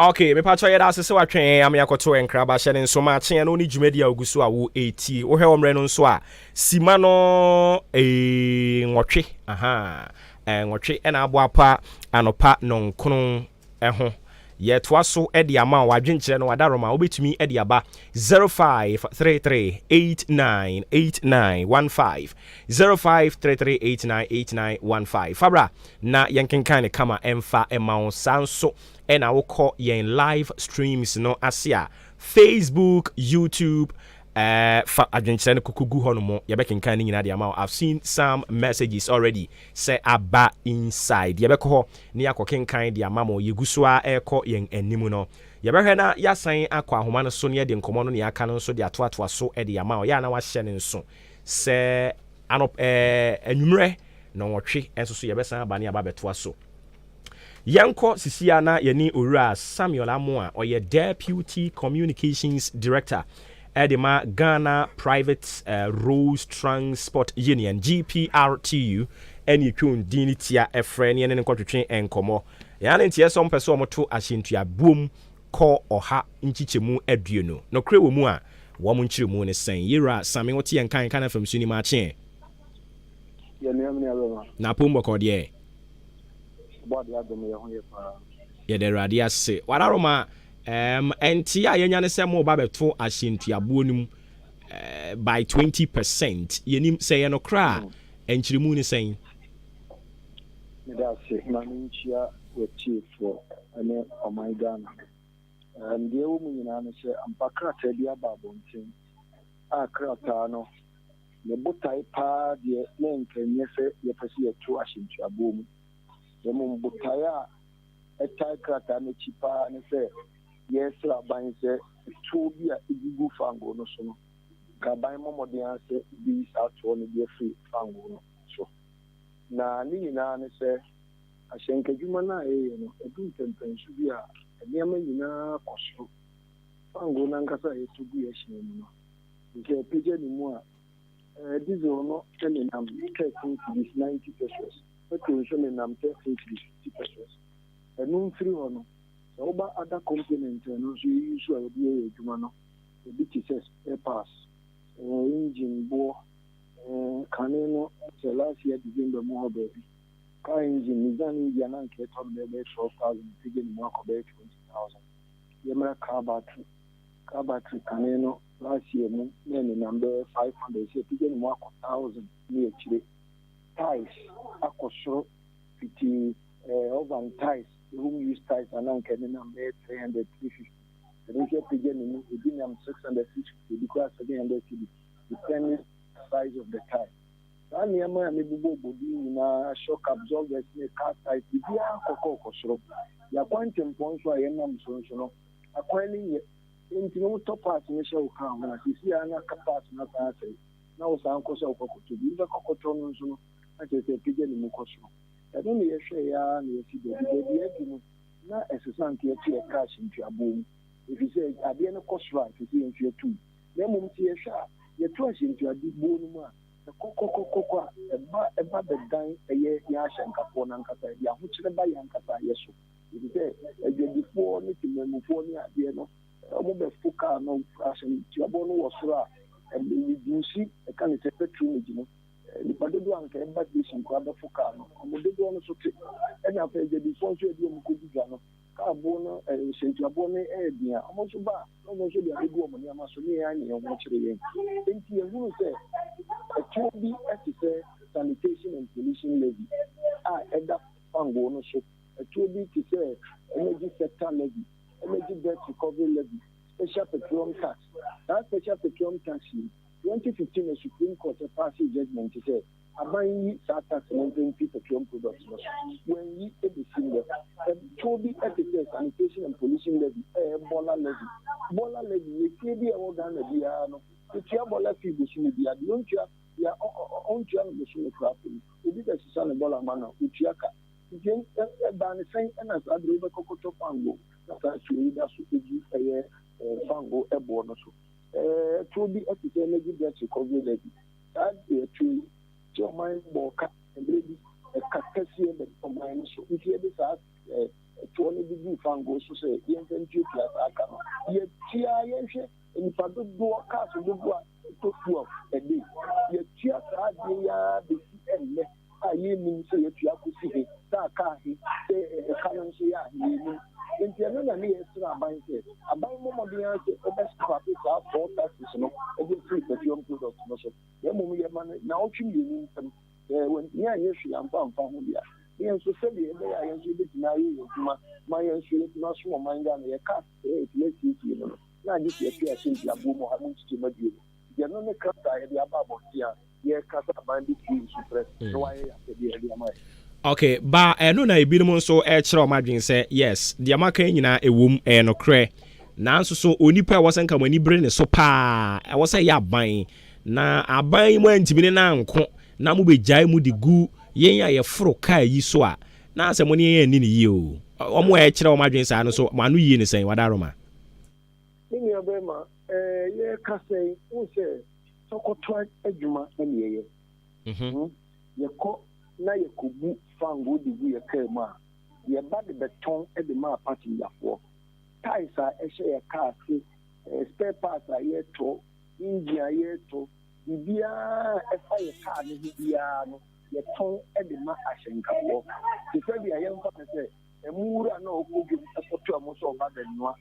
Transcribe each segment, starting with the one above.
Ok, mepakyɛw yɛda ase sɛ watwɛn yɛn ama yɛakɔtow nkraba, hyɛ no nso ma kye ɛno ne dwumadi a ogu so a wo etie. Wo hwɛ wɔ mmerɛ no nso a, sima no eeh nwɔtwe ahaa nwɔtwe ɛna aboapa anɔpa nɔnkron ho. Yɛ toa so de ama wo adwenkyerɛ no adaroma wo bɛtumi de aba 0533898915 0533898915 fa bra na yɛnkenkan no kama ɛmfa ɛma wo saa nso na wokɔ yɛn live streams no ase a, Facebook, YouTube, eh, fa adwenkyerɛ no koko gu hɔ no mo, yɛbɛkenkan ne nyinaa de ama wo. I've seen some messages already sɛ aba inside. Yɛbɛkɔ hɔ ne yɛakɔkenkan de ama mo. Yɛgu so a ɛrekɔ yɛn anim no. Yɛbɛhwɛ na yɛasan akɔ ahoma no so ne yɛde nkɔmmɔ no ne aka no nso de atoatoa so de ama wo. Yɛ a na wahyɛ ne nso sɛ anɔp eh, anwummerɛ nɔnwɔtwe nso so yɛbɛsan aba ne aba abɛtoa so. Yɛnkɔ sisia na yɛne Owura Samuel Amoah a ɔyɛ Deputy Communications Director de ma Ghana Private Roads Transport Union, GPRTU, ne ɛtwa din no tia frɛ na yɛne no nkɔtwetwe nkɔmmɔ. Yɛn ane nteɛ sɛ wɔpɛ sɛ wɔto ahyɛntua boom kɔ ɔha nkyekyɛmu aduonu. Nɔkorɛ wɔ mu a, wɔn nkyerɛmu ne sɛn? Yewura Same wote yɛn nka nka na fam so nim akye ɛ. Yɛn nuam ne aberɛma. Na apom bɔkɔɔ deɛ ɛ? Ɔbɔadeɛ adom yɛ ho yɛ paa. Yɛda Awurade ase. Wadaroma, ɛɛm, ɛnte a yɛnya ne sɛ mo ba bɛto ahyɛ ntuaboɔ no mu ɛɛ by 20 percent. Yɛnim sɛ yɛ nokorɛ a, hmm. ɛnkyerɛmu ne sɛn? Meda ase na menkyia wɔtiefoɔ ne ɔman Ghana. Um, deɛ ɛwɔ mu nyinaa ne sɛ ampa krataa bi aba abɔnten a krataa no Ne botae paa deɛ na anka nyɛ sɛ yɛpɛ sɛ yɛto ahyɛ ntuaboɔ mu, na mmom botae a ɛtae krataa no akyi paa ne sɛ yɛresrɛ aban sɛ toɔ bi a ɛgugu fangoo no so no, anka aban mmɔ mmɔden ara sɛ wɔbɛyi saa toɔ no de afiri fangoo no so. Na ne nyinaa ne sɛ, ahyɛnkadwuma no a yɛyɛ no, ɛdu mpɛnpɛnso bi a, nneɛma nyinaa kɔ soro. Fangoo no ankasa a yɛtɔ gu yɛn hyɛn mu no, Nti ɔpagya ne mu a, ɛɛ diesel no nenam thirteen cedis, ninety pesos, petrol nso nenam thirteen cedis, fifty pesos. Ɛno mfiri hɔ no, sɛ woba other components a ɛno nso yɛyi so a yɛde yɛ yɛn adwuma no, ebi te sɛ spare parts, ɛɛ engine boɔ, ɛɛ kane no sɛ last year December mu hɔ baabi, car engine, Nissan no bi a na anka ɛtɔ no bɛyɛ bɛyɛ twelve thousand, yɛpagya ne mu akɔ bɛyɛ twenty thousand. Yɛmmra car battery. Car battery kane no last year mu na ɛnenam bɛyɛ five hundred sɛ apagya ne mu akɔ thousand ne akyire. Tiles akɔ soro fiti eh, oven tiles, home use tiles a na anka ɛnenam bɛyɛ three hundred, three fifty. Ɛno nso apagya ne mu, ebi nam six hundred, six fifty, ebi koraa seven hundred cedi depending size of the tile. Saa nneɛma a mebobɔbobɔ din nyinaa, shock absorbers ne car tiles, biribiara kɔkɔɔ kɔ soro. Yɛn akwantempɔn so a yɛnam so nso no, akwan no nyɛ enti na wɔtɔ parts no hyɛ wo car mu na seesei ara na parts no asan asɛe na wosan kɔ sɛ wokɔkɔtɔ bi nso kɔkɔtɔ no nso no na kyerɛ sɛ ɛpagya ne mu kɔ soro ɛno na yɛhwɛeɛ ara na yɛasi baabi baabi a adu no na ɛsesa nti yɛtoɛ cash ntuaboɔ mu ɛfiri sɛ adeɛ no kɔ soro a ɛsɛ sɛ yɛnso yɛto mu na mmom sɛ yɛhwɛ a yɛto ahyɛ ntuaboɔ no mu a ɛkɔkɔkɔkɔ a ɛba ɛba bɛdan ɛyɛ yɛn ahyɛnkafoɔ no ankasa ɛde ahokyerɛ ba yɛn ankasa yɛ so. efisɛ adwadifoɔ ne temanmufoɔ ne adeɛ no, wɔbɛfo kaa no asɛntiabɔ no wɔ soro a, mmereburusi, ɛka ne sɛ patronage no, nnipa dodoɔ a anka ɛba station koraa bɛfo kaa no, wɔn dodoɔ no so te. Ɛna afei adwadifoɔ nso a ɛde wɔn kɔdi dwa no, kaa boɔ no asɛntiaboɔ no yɛ den a, wɔn nso ba a, na wɔn nso de abɛgu wɔn nneɛma so, ne yɛn ara ne yɛn ho kyere yɛn. Enti yɛhunu sɛ ɛtoɔ bi te sɛ sanitation and pollution levy a ɛda Fangoo no so. Atuo bi te sɛ Energy Sector Levy, Energy Debt Recovery Levy, Special Petroleum Tax. Saa Special Petroleum Tax yi, twenty fifteen na Supreme Court paasee judgement sɛ aban nyi saa tax no mfi petroleum products no so. Wɔanyi besi nnɛ. Atuo bi te sɛ Sanitation and Pollution Levy, ɛyɛ Bola Levy. Bola Levy yɛ fie bi a ɛwɔ Ghana biara no, wotua bola fee bosome biara. Deɛ ɔntua, deɛ ɔntua no bosome koraa mpo no, obi bɛsesa ne bola ma no a, ɔtua ka. Enti ɛbaa no sɛn na saa bere yi bɛkɔkɔtɔ fango na saa asuo yi da so di ɛyɛ fango boɔ no so? Ɛtuo bi te sɛ Lady Bletchley Covey Levee. Saa ɛtuo yi te ɔman bɔɔ ka mmerɛ bi, ɛka kɛseɛ bɛn ɔman no so nti ɛde saa ɛtuo no de guu fango so sɛ yɛmfa ntuatua saa ka no. Yɛtuaa, yɛnhwɛ nnipa dodoɔ, cars dodoɔ a. Tofuaf ɛde, yɛatua saa adeɛ yi ara bɛsi ɛnnɛ a yɛnnim sɛ yɛatua akɔsi he, sɛ aka ahe, sɛ ɛka no nso yɛ ahe, yɛnnim. Nti ɛno na ne yɛsrɛ aban sɛ, aban mmɔ mmɔden ara sɛ ɔbɛ scrape saa fuel taxes no de afiri petroleum products no so, na mmom yɛma no nnaawɔtwe mmienu ntam, sɛ wantumi anyɛ hwee amfa amfa ho deɛ a, ne yɛn nso sɛdeɛ ɛbɛyɛ a yɛn nso yɛbɛtumi ayɛ yɛn adwuma ma yɛn nso yɛatumi asom ɔman Ghana, yɛka. Sɛ yɛtumi asiesie no na agye sɛ yɛte asɛmti aboɔ mu ha mu nkyekyɛmu abien no. Gye no ne krataa a yɛde aba abɔnten a yɛreka sɛ aban bɛtie yɛn sufrɛ na wayɛ yɛn apɛdeɛ de ama yɛn. Ok, ba ɛno na ebinom nso rekyerɛ wɔn adwene sɛ, yes, deɛ moaka yi nyinaa ɛwom, ɛyɛ nokorɛ, nanso so onipa a ɛwɔ sɛ nka mo ani bere ne so paa ɛwɔ sɛ ɛyɛ aban, na aban yi moantumi ne no anko na mobɛgyae mu de gu yɛn a yɛforo kaa yi so a Na sɛ mo ne yɛn anni no yie oo. Wɔn a ɛkyerɛ wɔn adwene saa no nso, wɔn ano yie ne sɛn? Wada Roma. Me nua barima, eh, yɛreka sɛn? Wohu sɛ tɔkɔtɔɔ adwuma na ne yɛyɛ. Hum, yɛkɔ na yɛkɔbu fangoo de gu yɛn kaa mu a, yɛba de bɛtɔn de ma apasenjafoɔ. Taes a ɛhyɛ yɛn kaa ase, eh, spare parts a yɛtɔ, engine a yɛtɔ, biribiara a ɛfa yɛn kaa no ho biara no, yɛtɔn de ma ahyɛnkafoɔ. Te sɛ deɛ yɛmfa no sɛ ɛmo wura no a ɔkɔ dwam kɔtɔ ɛmo sɛ ɔba bɛnoa.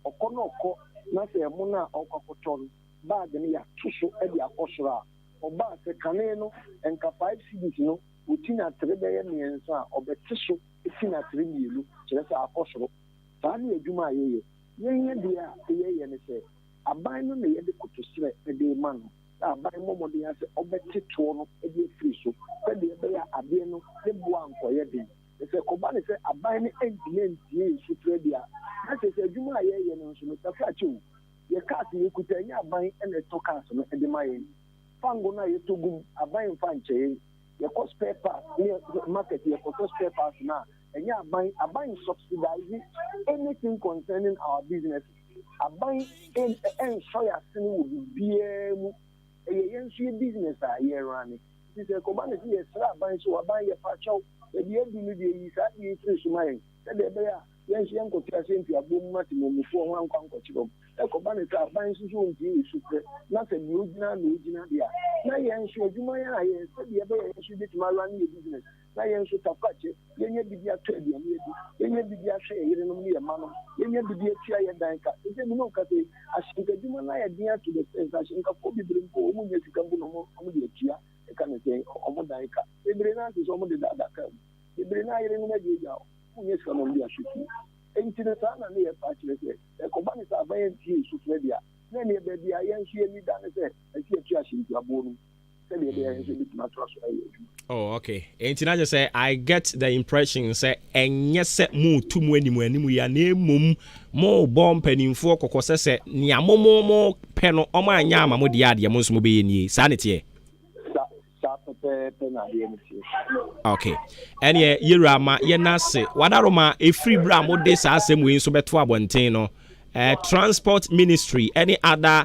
Ɔkɔ na ɔkɔ na sɛ ɛmo no a ɔkɔ akɔtɔ no, bag no yɛato so de akɔ soro a, ɔba a sɛ kane no nka five cedis no, ɔti no atere bɛyɛ mmiɛnsa a, ɔbɛte so ti no atere mmienu, kyerɛ sɛ akɔ soro. Saa ne adwuma a yɛyɛ. Yɛn adeɛ a yɛyɛ ne sɛ, aban no na yɛde koto srɛ de rema no. a aban mmɔ mmɔden ara sɛ ɔbɛte toɔ no de afiri so sɛdeɛ ɛbɛyɛ a adeɛ no ne boɔ ankɔyɛ den. Na sɛ ɛkɔba no sɛ aban no antumi antie yɛn sufrɛ deɛ a, na kyerɛ sɛ adwuma a yɛreyɛ no nso no, yɛafra kyɛ o. Yɛn cars a yɛkuta, ɛnyɛ aban na ɛtɔ cars no de ma yɛn. Fango no a yɛtɔ gu mu, aban mfa nkyɛ yɛn. Yɛkɔ spare parts ne market yɛkɔtɔ spare parts no a, ɛnyɛ aban. Aban nsubsidize anything concerning our businesses. Aban en ɛnsɔ yɛ asene wɔ biribiara mu. Ɛyɛ yɛn nso yɛ business a yɛ runne. Nti sɛ ɛkɔba no sɛ yɛsrɛ aban sɛ, o aban yɛ pakyɛw, baabi a adu no deɛ yi saa adeɛ yi firi so ma yɛn, sɛdeɛ ɛbɛyɛ a yɛn nso yɛnkɔto ahyɛn mfi aboɔ mu ma temammufoɔ ho ankɔ ankɔkyere wɔn. Ɛkɔba no sɛ aban nso sɛ ɔntie yɛ sufrɛ, na sɛ deɛ ɔgyina na ɔgyina deɛ a, na yɛn nso adwuma yɛn ayɛ, sɛdeɛ ɛbɛyɛ a yɛn nso yɛbɛtumi a runne yɛ business. na yɛn nso tafa kyɛ, yɛnya biribi atɔ aduane adi, yɛnya biribi ahwɛ yɛn yerenom ne yɛn mmanom, yɛnya biribi atua yɛn dan ka. Seesei me ne wo kasa yi, ahyɛnka adwuma no ayɛ den to the extent sɛ ahyɛnkafoɔ bebree mpo a wɔnnya sika mpo na wɔde atua, yɛka no sɛn, wɔn dan ka. Bebree no ara te sɛ wɔde daadaa kaa mu. Bebree no ara yerenom agyaagyaa wɔn, wɔnnya sika ma wɔde ahwɛ fie. Enti no saa na na yɛfa akyerɛ sɛ, sɛ ɛkɔba no sɛ aban antie yɛn sufrɛ de a, na ɛnneɛ baabi a yɛn nso yɛn ani da ne sɛ ɛsɛ yɛto ahyɛntuaboɔ no mu. sɛdeɛ ɛbɛyɛ ahwɛ sɛ ɛbɛtumi atoa so ayɛ adwuma Oh, okay. Enti na sɛ I get the impression sɛ ɛnyɛ sɛ moretu mu anim anim yi na mmom morebɔ mpanimfoɔ kɔkɔ sɛ sɛ nea mo mo mo pɛ no wɔn anyɛ ama mo deɛ adeɛ mo nso mobɛyɛ nie saa ne teɛ. Sa saa pɛpɛɛpɛ na adeɛ no teɛ. Okay. Ɛneɛ yɛwura ma yɛn ase wadaro ma ɛfiri berɛ a mode saa asɛm wei nso bɛto abɔnten no. Uh, transport ministry any other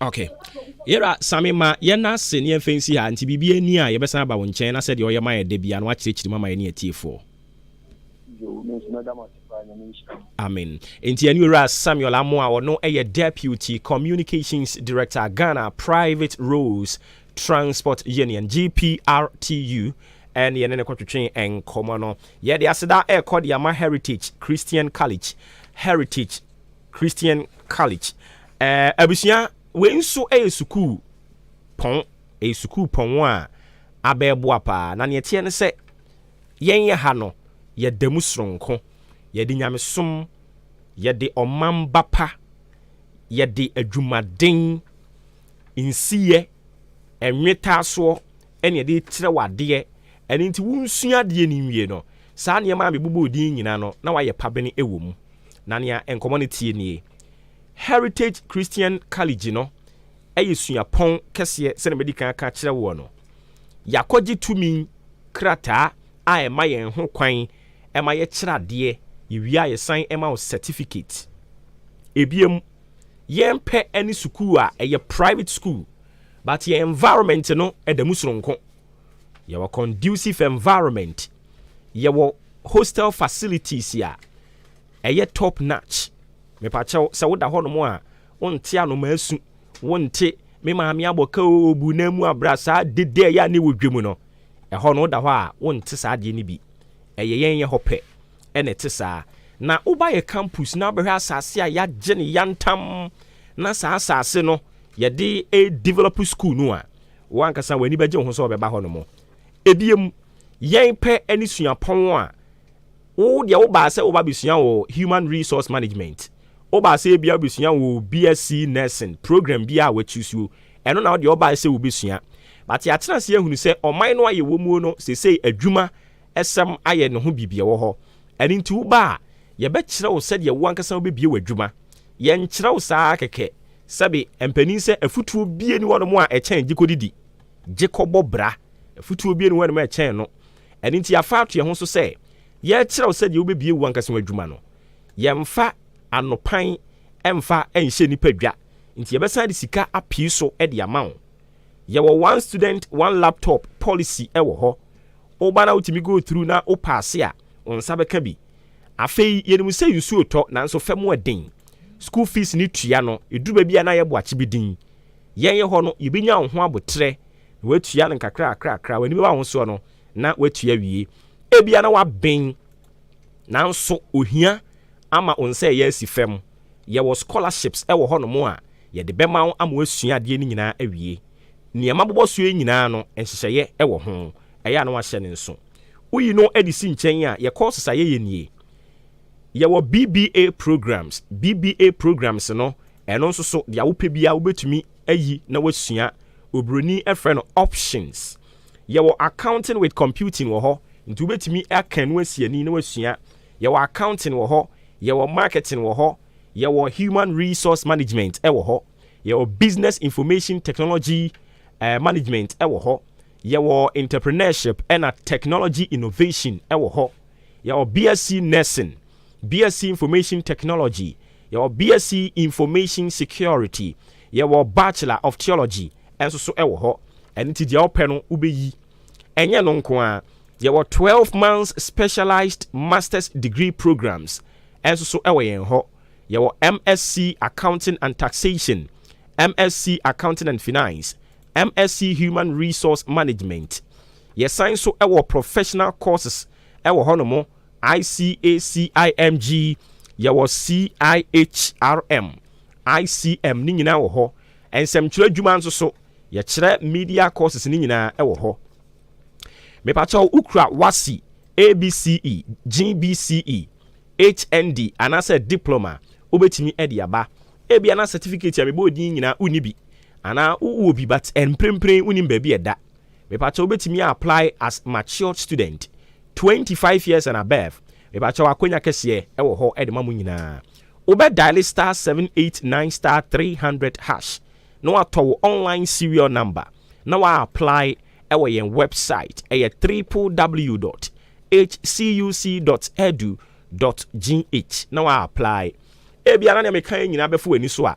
Okay. Yɛra same ma yɛn ase ne yɛmfa nsi ha nti biribi ani a yɛbɛsan aba wo nkyɛn na sɛdeɛ ɔyɛ ma yɛ da biara na wakyerɛkyerɛ mu ama yɛne atiefoɔ. Amen. Nti ɛne owura Samuel Amo a ɔno yɛ Deputy Communications Director Ghana Private Roads Transport Union GPRTU ɛne yɛne ne kɔtwetwe nkɔmmɔ no. Yɛde aseda ɛrekɔ de ama Heritage Christian College, Heritage Christian College. Ɛɛ, abusua, wei nso yɛ sukuu pɔn. Ɛyɛ sukuu pɔn a abɛɛboa paa. Na nea ɛteɛ ne sɛ, yɛn ha no, yɛda mu soronko. Yɛde nyamesom, yɛde ɔmamba pa, yɛde adwumaden, nsiyɛ, nnwetaasoɔ na yɛde kyerɛ wo adeɛ. Ɛno nti, wonsua adeɛ no nwie no, saa nneɛma a mebobɔɔ din nyinaa no, na woayɛ pabene wɔ mu. na nea nkɔmmɔ no teɛ nie, Heritage Christian College no yɛ suapɔn kɛseɛ sɛdeɛ madi kan aka akyerɛ woɔ no. Yɛakɔgye tumi krataa a ɛma yɛn ho kwan ma yɛkyerɛ adeɛ, yɛwie a yɛsan ma wo certificate. Ebiem, yɛmpɛ ne sukuu a ɛyɛ private school but yɛn environment no da mu soronko. yɛwɔ conducive environment, yɛwɔ hostel facilities a ɛyɛ top notch. Mepakyɛw sɛ woda hɔnom a wonte anoma asu, wonte me maame abɔka o obu na mu abra saa dede a ɛyɛ a ne wɔ dwa mu no. Ɛhɔ no woda hɔ a wonte saa adeɛ no bi. Ɛyɛ yɛn yɛ hɔ pɛ ɛna ɛte saa. Na woba yɛ campus na wobɛhwɛ asase a yɛagye no yantam na saa asase no yɛde develop school no a, Wo ankasa w'ani bɛgye wo ho sɛ wɔbɛba hɔnom. Ebiem, yɛn pɛ ne suapɔn a wo deɛ wobaa sɛ woba bɛsua wɔ Human Resource Management, wobaa sɛ ebia wobɛsua wɔ BSc Nursing program bi a wɔakyusuo, ɛno na wodeɛ wobae sɛ wobɛsua. But yɛatena ase ahunu sɛ ɔman no a yɛwɔ muo no, sesei adwuma Asɛm ayɛ ne ho biribi a ɛwɔ hɔ. Ɛno nti woba a, yɛbɛkyerɛ wo sɛdeɛ wo ankasa wobɛbue w'adwuma. Yɛnkyerɛ wo saa ara kɛkɛ. Sɛbe, mpanin sɛ afutuo bie ni hɔnom a ɛkyɛn gye kɔdidi, gye kɔbɔ bra. Afutuo bie ni hɔnom a ɛkyɛn no. Ɛno nti yɛafa ato yɛn ho so sɛ yɛrekyerɛ wo sɛdeɛ wobɛbue wo ankasa w'adwuma no. Yɛmfa anopan mfa nhyɛ nnipa dwa, nti yɛbɛsan de sika apue so de ama wo. yɛwɔ one student one laptop policy wɔ hɔ. Woba na wotumi go through na wo paase a, wo nsa bɛka bi. Afei yɛnim sɛ nsuo tɔ nanso fam wɔ den. School fees ne tua no, ɛduru baabi a na yɛbɔ akyebedin. Yɛn yɛ hɔ no, yɛbɛnya wo ho aboterɛ na watua no nkakrakrakra, w'ani bɛba ahosoɔ no na watua awie. Ebia na waben. Nanso ohia ama wo nsa ɛyɛ asi fam. Yɛwɔ scholarships wɔ hɔnom a yɛde bɛma wo ama woasua adeɛ no nyinaa awie. Nea mabobɔ soɔ yi nyinaa no, nhyehyɛeɛ wɔ ho. Ɛyɛ a na woahyɛ no nso. Woyi no de si nkyɛn a, yɛn courses a yɛyɛ nie. Yɛwɔ BBA programs. BBA programs no, ɛno nso so, deɛ wopɛ biara wobɛtumi ayi na woasua. Oburoni frɛ no options. Yɛwɔ Accounting with Computing wɔ hɔ, nti wobɛtumi aka ɛno asi ani na woasua. Yɛwɔ Accounting wɔ hɔ, yɛwɔ Marketing wɔ hɔ, yɛwɔ Human Resource Management wɔ hɔ, yɛwɔ Business Information Technology Management wɔ hɔ, yɛwɔ Entrepreneurship ɛna Technology Innovation wɔ hɔ, yɛwɔ BSc Nursing, BSc Information Technology, Yɛwɔ BSc Information Security. Yɛwɔ Bachelor of Theology nso so wɔ hɔ. Ɛno nti deɛ wopɛ no wobɛyi. Ɛnyɛ ɛno nko ara, yɛwɔ twelve months specialized Masters degree programmes nso so wɔ yɛn hɔ. Yɛwɔ MSc Accounting and Taxation, MSc Accounting and Finance, MSc Human Resource Management. Yɛsan nso wɔ professional courses wɔ hɔnom. ICACIMG, yɛwɔ CIHRM, ICM ne nyinaa wɔ hɔ. Nsɛmtwerɛ adwuma nso so, yɛkyerɛ media courses ne nyinaa wɔ hɔ. Mepakyɛw wokura WASSCE, ABCE, GBCE, HND anaasɛ Diploma wobɛtumi de aba. Ebia na certificate a mebɔɔ din yi nyinaa wonni bi anaa wowɔ bi but mprempren wonim baabi a ɛda. mepakyɛw wobɛtumi a apply as matured student, twenty five years and above, mepakyɛw akwanya kɛseɛ ɛwɔ hɔ ɛde ma mo nyinaa. Wobɛ dial star seven eight nine star three hundred hash na watɔ wo online serial number na wa apply ɛwɔ yɛn website ɛyɛ ww dot hcuc dot edu dot gh na wa apply. Ebia na nea meka yɛ nyinaa bɛfo w'ani so a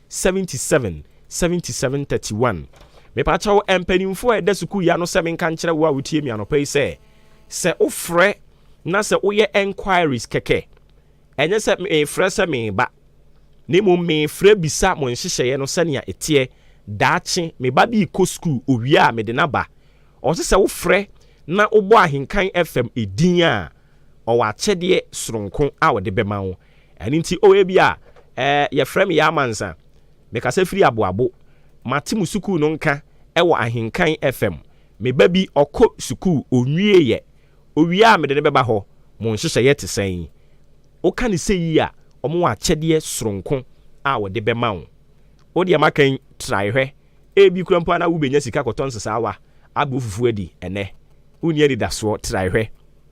Seventy seven, seventy seven thirty one Mepakyɛw mpanyimfo a ɛda sukuu yi ano sɛ menka nkyerɛ wo a wutie me anɔpa yi sɛ, sɛ wofrɛ na sɛ woyɛ enquiries kɛkɛ, ɛnyɛ sɛ mefrɛ sɛ mereba, na mmom mefrɛ bisa mo nhyehyɛe no sɛnea ɛteɛ. Daakye, me ba bi rekɔ sukuu, owia a mede no aba. Ɔse sɛ wofrɛ na wobɔ Ahenkan FM din a, ɔwɔ akyɛdeɛ soronko a ɔde bɛma wo. Ɛno nti, oh, ebia, eh, yɛfrɛ me Yaa Mansa. Mekasa firi Aboabo. Mate mo sukuu no nka wɔ Ahenkan FM. Me ba bi, ɔkɔ sukuu, ɔnwieeɛ. Ɔwie a, mede no bɛba hɔ. Mo nhyehyɛeɛ te sɛn? Woka no seyi a, wɔwɔ akyɛdeɛ soronko a wɔde bɛma wo. Wo deɛ maka yi, trae hwɛ. Ebi koraa mpo a na wobɛnya sika akɔtɔ nsesaawa, abrɛ wo fufuo adi, ɛnnɛ, wonni anidasoɔ. Trae hwɛ.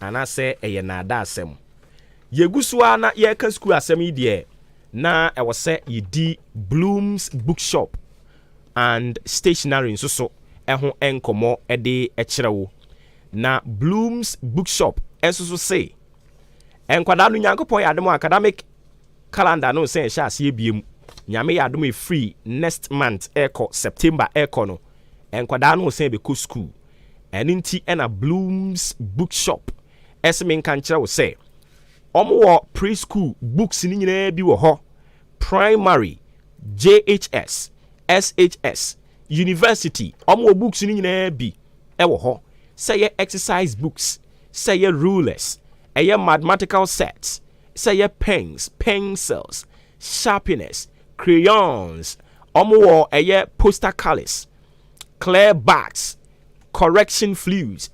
Anaasɛ ɛyɛ nnaadaasɛm? Yegu so ara na yɛreka sukuu asɛm yi deɛ, na ɛwɔ sɛ yedi Bloom's Bookshop and Stationery nso so ho nkɔmmɔ de kyerɛ wo. Na Bloom's Bookshop nso so se, Nkwadaa no, Nyankopɔn yɛ adom a academic calendar no resan ahyɛ aseɛ biom. Nyame yɛ adom a ɛfiri next month rekɔ, September rekɔ no, nkwadaa no resan bɛkɔ sukuu. Ɛno nti na Bloom's Bookshop se menka nkyerɛ wo sɛ wɔwɔ pre-school books no nyinaa bi wɔ hɔ, primary, JHS, SHS, university, wɔwɔ books no nyinaa bi wɔ hɔ. Sɛ ɛyɛ exercise books, sɛ ɛyɛ rulers, ɛyɛ mathematical sets, sɛ ɛyɛ pens, pencils, sharpeners, crayons, wɔwɔ ɛyɛ poster colors, Clear backs, correction flues,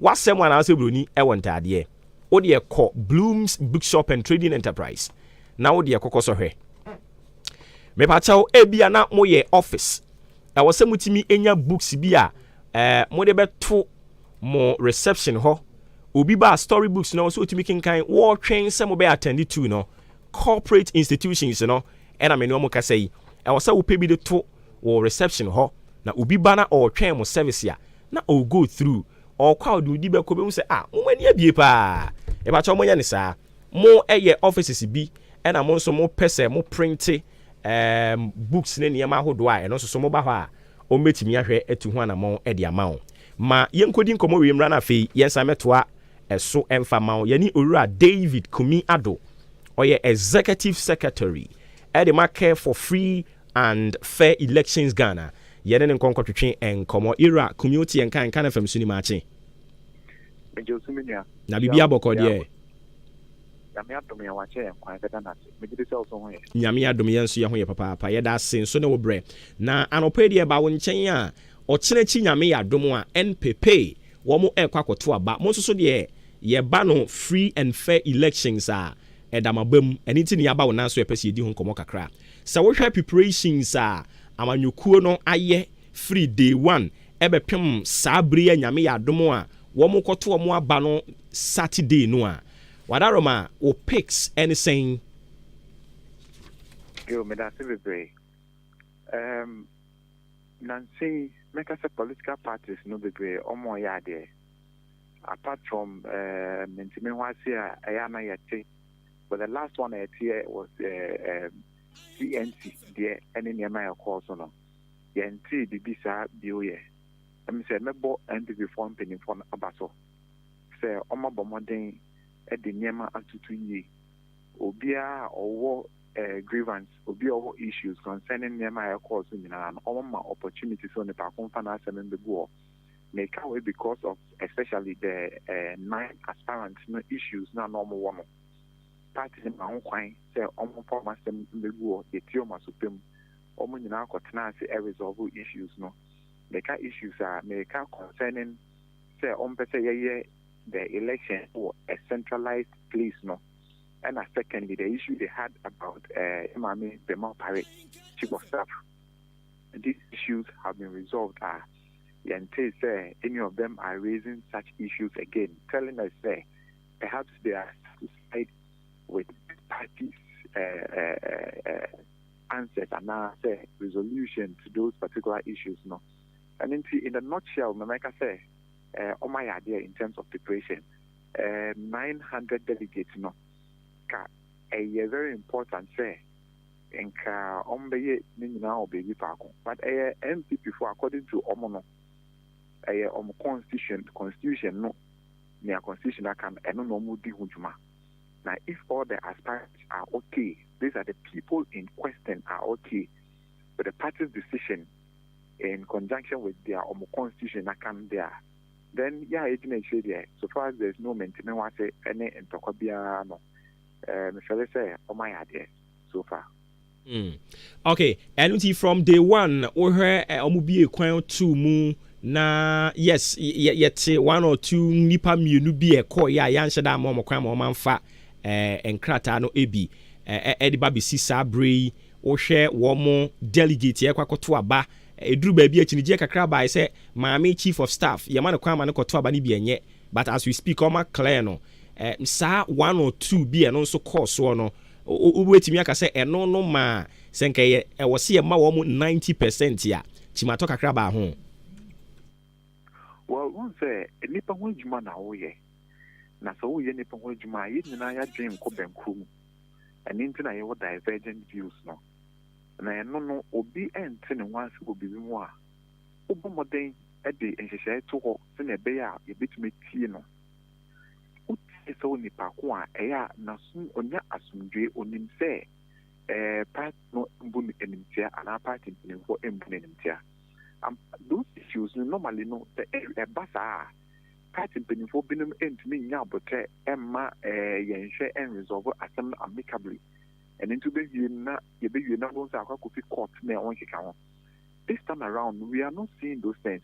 w'asɛm anaasɛ buroni wɔ ntaadeɛ, wodeɛ kɔ Bloom's Bookshop and Trading Enterprise na wodeɛ kɔkɔ sɔhwɛ. Mepakyɛw, ebia na moyɛ office, ɛwɔ sɛ motumi nya books bi a eh, mode bɛto mo reception hɔ. Obi ba a story books no so otumi kenkan, wɔtwɛn sɛ mobɛ attend to no. Corporate institutions no, ɛna me ne wɔn kasa yi, ɛwɔ sɛ wopɛ bi de to wɔ reception hɔ na obi ba na ɔɔtwɛn mo service a na ɔɔ go through ɔɔkɔ a ɔde odi bɛkɔ ɔbɛhu sɛ ah mo ani abie paa mepakyɛw monyɛ no saa mo ɛyɛ offices bi ɛna mo nso mo pɛ sɛ mo printe um, books ne nneɛma ahodoɔ a ɛno nso so moba hɔ a ɔmbɛtumi ahwɛ atu ho anamɔn ɛde ama wo ma yɛnkɔdi nkɔmmɔ wei mmra no afei yɛnsan mɛtoa ɛso ɛmfa ma wo yɛne owura David Kumi Ado ɔyɛ executive secretary ɛde ma care for free And fair elections Ghana yɛne no nkɔ nkɔtwetwe nkɔmɔ Ira kumi wote yɛnka nka na fam so ni maakye. Megye wo so me nua. Na biribi a bɔkɔ deɛ. Nyame adom yɛn wakyɛ yɛn kwan bɛda no ase megye di sɛ wo so ho yɛ. Nyame adom yɛn nso yɛn ho yɛ papaapa yɛda ase nso ne wo brɛ na anɔpa yi deɛ ba wo nkyɛn a ɔkyena akyi Nyame yɛ adom a NPP wɔn ɛkɔ akɔto aba mo nso so deɛ yɛba no free and fair elections a ɛda mo aba mu ɛno nti ne yɛaba wo nan so yɛpɛ sɛ yɛdi ho nkɔmɔ kakra. Sɛ wohwɛ preparations a amanyɔkuo no ayɛ firi day one ɛbɛpem saa bere yi a Nyame yɛ adom a wɔn kɔto wɔn aba no Saturday no a, Wadaroma wo pics ɛne sɛn? Yo, medase bebree. Erm nansa yi mɛka sɛ political parties no bebree wɔn reyɛ adeɛ apart from erm ntimihoase a ɛyɛ a na yɛte. but the last one a ɛteɛ was CNC deɛ ɛne nneɛma a ɛkɔɔ so no yɛntee biribi saa bio yɛ. Ɛm sɛ mɛbɔ NPP foɔ mpanimfoɔ no aba so sɛ wɔabɔ mmɔden de nneɛma atutu yie. Obiara a ɔwɔ grievance, obi a ɔwɔ issues concerning nneɛma a ɛkɔɔ so nyinaa no, wɔmma opportunity sɛ onipa ko mfa n'asɛm mbɛgu hɔ. Meka wei because of especially the eh, nine aspirants no issues no a na wɔwɔ no. Party no ma ho kwan sɛ wɔmfa wɔn asɛm mmegu wɔ the Tiom Asopɛ mu. Wɔn nyinaa kɔtenaa ase ɛresolve issues no. Meka issues a, meka concerning sɛ wɔmpɛ sɛ yɛyɛ the election wɔ a centralized place no. Ɛna secondly, the issue they had about eh, yɛ maame Bema Opare, chief of staff. These issues have been resolved a, yɛntee sɛ any of them are raising such issues again telling us sɛ perhaps they are satisfied with the party's uh, uh, uh, answers anaasɛ resolution to those particular issues no ɛno nti in a nutshell mamɛka sɛ ɔma yɛ adeɛ in terms of preparation uh, 900 delegates no ka ɛyɛ very important sɛ Nka ɔmo bɛyɛ ne nyinaa wɔ baabi faako but ɛyɛ NPP fo according to ɔmo no ɛyɛ ɔmo constitution constitution no nea constitution aka no ɛno na ɔmo di ho dwuma na if all the aspirants are okay these are the people in question are okay with the party's decision in conjunction with their ɔmo constitution aka no deɛ a then yɛ a yɛgyina akyire deɛ so far as there is no mente me ho ase ɛne ntɔkwa biara no ɛɛ mefɛle sɛ ɔmo ayɛ adeɛ. so far. Mm. Okay, ɛno nti from day one wohwɛ eh, ɔmo bie kwan to mu na yes yɛte one or two nipa mmienu bi ɛkɔ yɛ a yɛanhyɛ da ama ɔmo kwan ma ɔmo anfa eh, nkrataa no ebi eh, ɛde ba besi saa bere yi wohwɛ wɔn delegate yɛkɔ akɔto aba eduru baabi akyinigyeɛ kakra bae sɛ maame chief of staff yɛma no kwan ma no kɔto aba no bi ɛnyɛ but as we speak ɔma clear no eh, saa one or two bi ɛno nso kɔɔ soɔ no Wubetumi aka sɛ ɛno no maa sɛ anka ɛyɛ ɛwɔ sɛ yɛma wɔn ninety percent a, kyimatɔ kakra baa ho. Well, wohu sɛ nnipa ho adwuma na woreyɛ, na sɛ woreyɛ nnipa ho adwuma a, yɛn nyinaa yɛadwene nkɔ bɛnkoro mu. Ɛno nti na yɛwɔ divergent views no. Na ɛno no, obi nte ne ho ase wɔ biribi ho a, wobɔ mmɔden de nhyehyɛe to hɔ sɛnea ɛbɛyɛ a yɛbɛtumi atie no. Wotie sɛ onipa ko a, ɛyɛ a n'asom nya asomdwoe. Onim sɛ party no mbu no animtia anaa party mpanimfoɔ mbu no animtia. Ampa, those issues no, normally no, sɛ ɛba saa a, party mpanimfoɔ binom ntumi nnya aboterɛ mma yɛnhwɛ nresolve asɛm no amicably. Ɛno nti wobɛwie no na yɛbɛwie na wobɛhu sɛ akɔ akɔfi court na ɛho nkeka ho. This time around no, we are not seeing those things.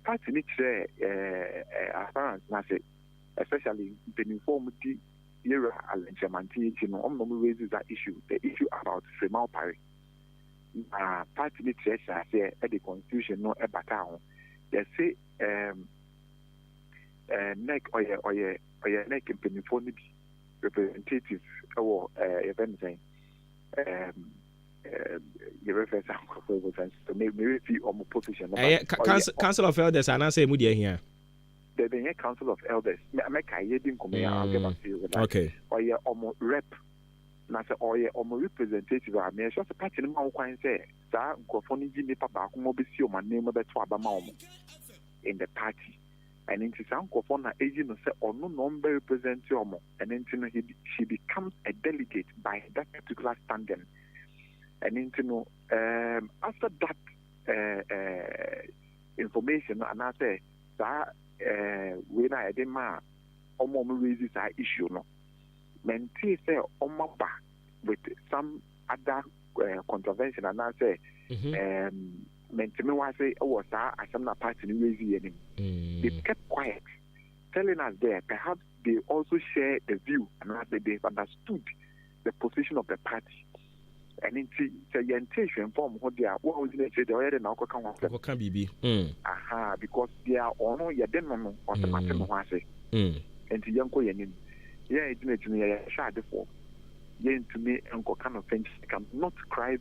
Party no kyerɛɛ aspirants no ase, especially mpanyimfo a wɔdi Yerea Alɛnkyerɛmanten akyi no, wɔn na wɔn raise saa issue, the issue about Fremal Pare. Na party no kyerɛ hyɛɛ aseɛ de constitution no bataa ho. Yɛse ɛɛm ɛɛ NEC ɔyɛ ɔyɛ ɔyɛ NEC mpanyimfoɔ no bi representative wɔ ɛɛ yɛfrɛ no sɛn ɛɛm. yɛbɛfɛ saa nkurɔfoɔ yɛbɔ saa nsusu merefi ɔmo position no ɛyɛ council of elders anaasɛ ɛmu deɛ ahia dɛbi ɛyɛ council of elders mɛka yɛ di nkɔmɔ yɛ I'll get back to you with that okay ɔyɛ ɔmo rep na sɛ ɔyɛ ɔmo representative a meyɛ sure sɛ party no ma wo kwan sɛ saa nkurɔfoɔ no yi nipa baako ma ɔbɛsi ɔmo anim bɛto aba ma ɔmo in the party ɛno nti saa nkurɔfoɔ na ɛyi no sɛ ɔno na ɔmbɛ represent ɔmo Ɛno nti no he she becomes a delegate by that particular standing. Ɛno nti no um, after that uh, uh, information no anaasɛ saa uh, wei no a yɛde maa ɔma ɔmo raise saa issue no mentee sɛ ɔma ba with some other uh, contravention anaasɛ mm-hmm. um, menteme wase wɔ saa asɛm na party no raise yɛ no mu mm. they kept quiet telling us there perhaps they also share the view anaasɛ they understood the position of the party ɛno nti sɛ yɛntee hwɛ mfa wɔn ho deɛ a wo a wogyina akyire deɛ ɔyɛ dɛ na wokɔka ho asɛm kɔka biribi mm. aha because deɛ ɔno yɛde no no ɔsɛ mate me ho ase mm. nti yɛnkɔ yɛn anim yɛn agyina akyi no yɛyɛ hwɛ adefoɔ yɛntumi nkɔka no fɛnkyika not scribe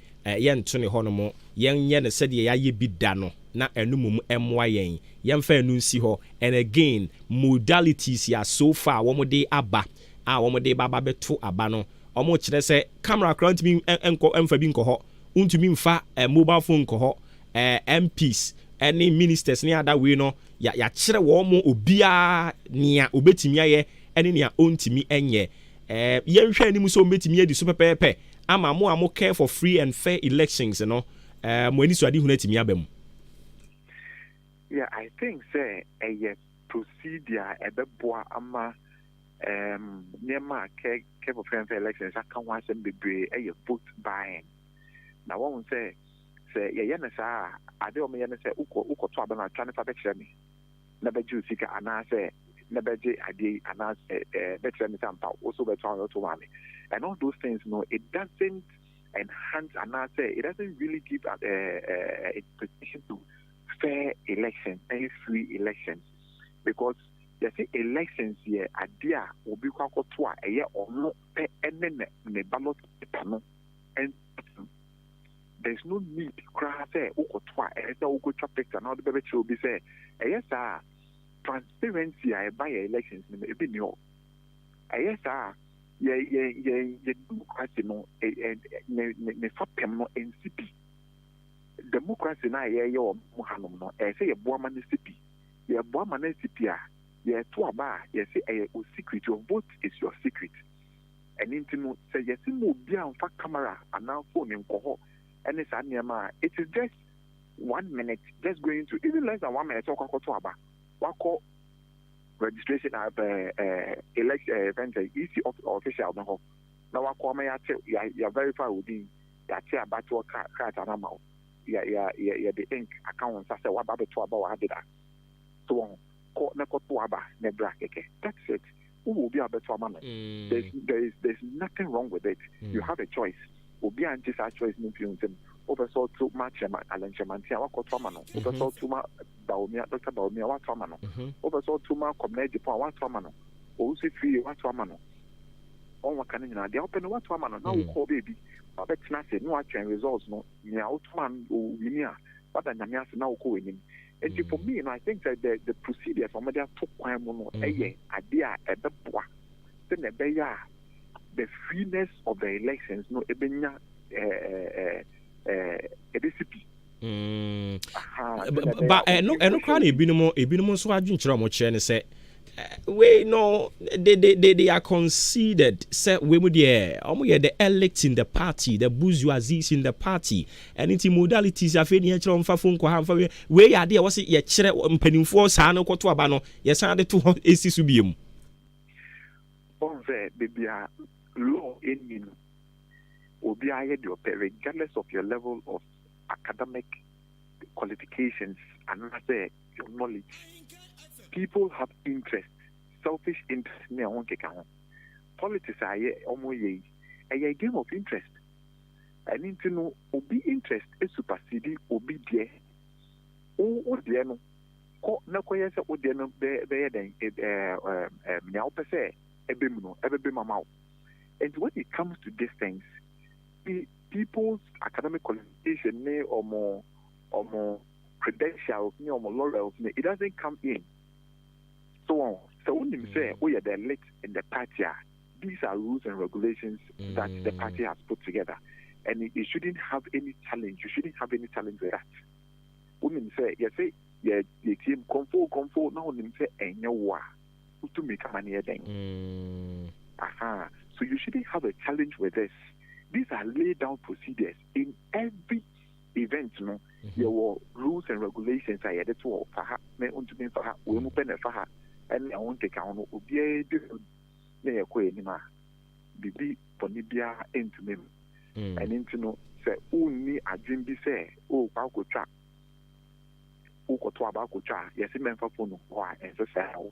Yɛnto no hɔnom, yɛnyɛ no sɛdeɛ yɛayɛ bi da no, na ɛno mmom mmoa yɛn. Yɛmfa ɛno nsi hɔ. And again, modalities yi a so far wɔde aba a wɔde ba ba bɛto aba no, wɔkyerɛ sɛ camera koraa ntumi nkɔ mfa bi nkɔ hɔ, wontumi mfa mobile phone nkɔ hɔ, MPs ne ministers ne ada wei no, yɛakyerɛ wɔn obiara nea obetumi ayɛ ne nea ontumi nyɛ. Yɛnhwɛ anim sɛ wɔbetumi adi so pɛpɛɛpɛ ama mo a mo care for free and fair elections no mo anisoadehunu atumi aba mu. Yeah, I think sɛ ɛyɛ procedure a ɛbɛboa ama um, nneɛma a care, care for free and fair elections aka ho asɛm bebree ɛyɛ vote buying. Na wɔn sɛ sɛ yɛyɛ no saa a, ade a wɔyɛ no sɛ wokɔ wokɔto aba no atwa no fa bɛkyerɛ me. na bɛgye wo sika anaasɛ na bɛgye adeɛ yi anaasɛ bɛkyerɛ me sɛ ampa wo so wobɛto anaa woto maame and all those things no it doesn't enhance anaasɛ it doesn't really give a, a, a expectation to fair election ɛyɛ free election because yɛsɛ elections yɛ adeɛ a obi kɔ akɔto a ɛyɛ ɔno pɛ ne ne ballot paper no there is no need koraa sɛ wokɔto a ɛyɛ sɛ wokɔtwa picture na wode bɛbɛkyerɛ obi sɛ ɛyɛ saa a transparency a ɛba yɛ elections no mu ebi nni hɔ ɛyɛ saa a yɛ yɛ yɛ yɛ democracy no ɛ ɛ ne ne ne fapem no nsi bi democracy no a yɛyɛ wɔ mu hanom no ɛyɛ sɛ yɛboa ma no si bi yɛboa ma no si bi a yɛto aba a yɛse ɛyɛ o secret your vote is your secret Ɛno nti no sɛ yɛse ma obi a mfa camera anaa phone nkɔ hɔ ne saa nneɛma a, it is just one minute, just going to even less than one minute sɛ wokɔakɔto aba, wakɔ registration a ɛɛ election ɛɛ fɛn sɛ EC official no hɔ na wakɔ ama yɛate yɛ yɛ verify wo din, yɛate abatoɔ ka krataa no ama wo, yɛ yɛ yɛ yɛde ink aka wo nsa sɛ waba abɛto aba wɔ Adeda. So wɔn kɔ na kɔto aba na bra kɛkɛ, that's it. Wowɔ obi a wobɛto ama no. There's, there is, there's nothing wrong with it. You have a choice. Obi a ngye saa choice no mfiri wo nsam. Wopɛ sɛ ɔto ma Kyerema, Allen Kyeremante a, woakɔto ama no. Wopɛ sɛ ɔto ma Bawumia, Dɔkta Bawumia, woato ama no. Wopɛ sɛ ɔto ma Kwabena Agyepong a, woato ama no. Owusu Firie, woato ama no. Wɔn wɔka no nyinaa, deɛ wopɛ no woato ama no. Na wokɔɔ baabi, wabɛtena ase, na watwɛn results no. Nea woto maa no, ɔwini a, woada Nyame ase na wokɔ w'anim. nti for me no I think sɛ the the procedures wɔn de ato kwan mu no ɛyɛ mm-hmm. adeɛ a ɛbɛboa sɛ na ɛbɛyɛ a the freeness of the elections no ɛbɛnya ɛɛ ɛɛ ɛɛ ɛbɛsi bi. Mm. ba ɛno eh, ɛno koraa na ebinom ebinom nso adwenkyerɛ a wɔkyerɛ ne sɛ Wei no they they they they are considered sɛ wei mu deɛ wɔn yɛ the elite in the party the bourgeoisie in the party ɛne ti modalities afei ni ɛkyerɛ wɔn fa fo nkɔ ha nfa wei wei yɛ adeɛ wɔsi yɛkyerɛ mpanimfoɔ saa no kɔto aba no yɛsan de to hɔ esi so bie mu. Wɔn sɛ beebi a law ɛnni no obiara yɛ deɛ ɔpɛ regardless of your level of academic qualifications anaasɛ. your knowledge, people have interest, selfish interest ne ɛho nkeka ho. Politics a yɛ ɔmo yɛ yi, ɛyɛ a game of interest. Ɛno nti no, obi interest supersede obi deɛ. Wo wo deɛ no, kɔ na kɔyɛ sɛ wo deɛ no bɛ bɛyɛ dɛn ɛ ɛ ɛ nea wopɛ sɛ ɛbɛ mu no ɛbɛbɛ mu ama wo. And when it comes to these things, pe- people's academic qualification ne ɔmo ɔmo credentials ne wɔn laurels no it doesn't come in so wɔn sɛ wonim sɛ mm. woyɛ the lit in the party a these are rules and regulations mm. that the mm. party has put together and it, it shouldn't have any challenge you shouldn't have any challenge with that wonim sɛ yɛsɛ yɛ yɛtie mu kɔmfo kɔmfo na wonim sɛ ɛnyɛ wo a wotumi kama ne yɛ dɛn mm. aha so you shouldn't have a challenge with this these are laid down procedures in every event no yɛwɔ rules and regulations a yɛde to hɔ fa ha na ontumi nfa ha wei mu pɛ na ɛfa ha ɛne ɛho nkeka ho no obiara di so na yɛkɔ anim a biribi bɔne biara ɛntumi mu mm. ɛne nti no sɛ wonni adwen bi sɛ wokɔ oh, akɔtwa wokɔto aba akɔtwa a yɛse mɛmfa fonu hɔ a ɛnsɛ sɛ wo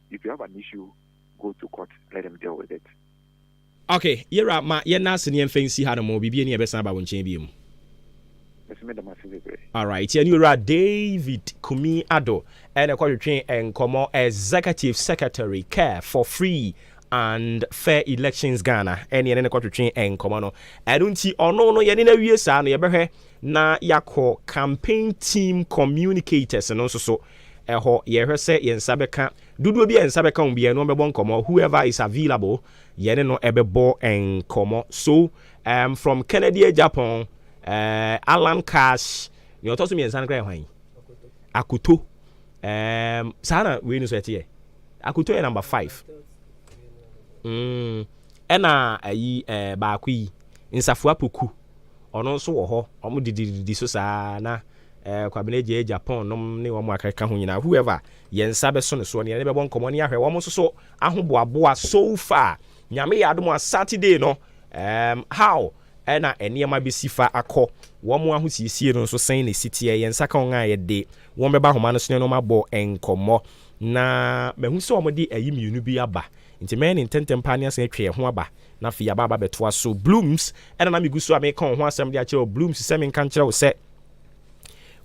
If you have an issue go to court let them deal with it. Ok yewura ma yɛnna ase na yɛnfa nsi ha nom biribi ani a yɛbɛsan aba wo nkyɛn biom. Mese meda mo ase bebree. Alright yɛne owura David Kumi Addo ɛna ɛkɔtwetwee nkɔmmɔ Executive Secretary Care for Free and Fair Elections Ghana ɛne yɛne no kɔtwetwee nkɔmmɔ no ɛno nti ɔno no yɛne no awie saa no yɛbɛhwɛ na yɛakɔ Campaign Team Communicators no nso so Ɛhɔ yɛhwɛ sɛ yɛn nsa bɛka dodoɔ bi a yɛn nsa bɛka wɔn biara no wɔbɛbɔ nkɔmmɔ whoever is available yɛne no ɛbɛbɔ nkɔmmɔ so um, from Kennedy Agyapong uh, eh, Alan Cash nea ɔtɔ so mmiɛnsa no kora yɛ hwan Akoto um, saa na wei no so ɛteɛ Akoto yɛ number five mm, ɛna ayi uh, eh, baako yi Nsafoa Poku ɔno nso wɔ hɔ wɔn didididi so saa na eh, Kwabena Agya Agya Pon nom ne wɔn a keka ho nyinaa, whoever yɛn nsa bɛso no soɔ no yɛne no bɛbɔ nkɔmmɔ ne ahwɛ wɔn nso so ahoboaboa so far. Nyame yɛ adom a Saturday no um, how ɛna nneɛma bɛsi fa akɔ, wɔn ahosiesie no nso sɛn na ɛsi teɛ, yɛn nsa ka wɔn a yɛde wɔn bɛba ahoma no so ne wɔn abɔ nkɔmmɔ. Na mahu sɛ wɔn de ayi mmienu bi aba, nti mɛyɛ ne ntɛntɛm paa ne asan atwa yɛn ho aba na afei yɛaba aba bɛtoa so. Blooms ɛna na megu so a meka wɔn ho asɛm de akyerɛ wo, Blooms sɛ menka nkyerɛ wo sɛ,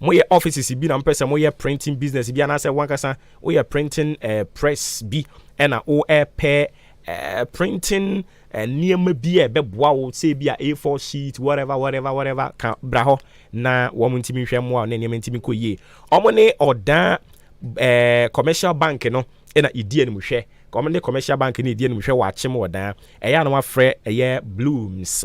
moyɛ offices bi na mpɛ sɛ moyɛ printing business bi anaasɛ wankasa woyɛ printing uh, press bi ɛna woɛpɛ uh, printing eh, nneɛma uh, bi a ɛbɛboa wo sɛ bi a a4 sheet whatever whatever whatever ka bra hɔ na wɔn ntumi nhwɛ mmoa ne nneɛma ntumi kɔ yie wɔn ne ɔdan uh, commercial bank no ɛna ɛdi anim hwɛ wɔn ne commercial bank no ɛdi anim hwɛ wɔ akyem ɔdan ɛyɛ a na wafrɛ ɛyɛ blooms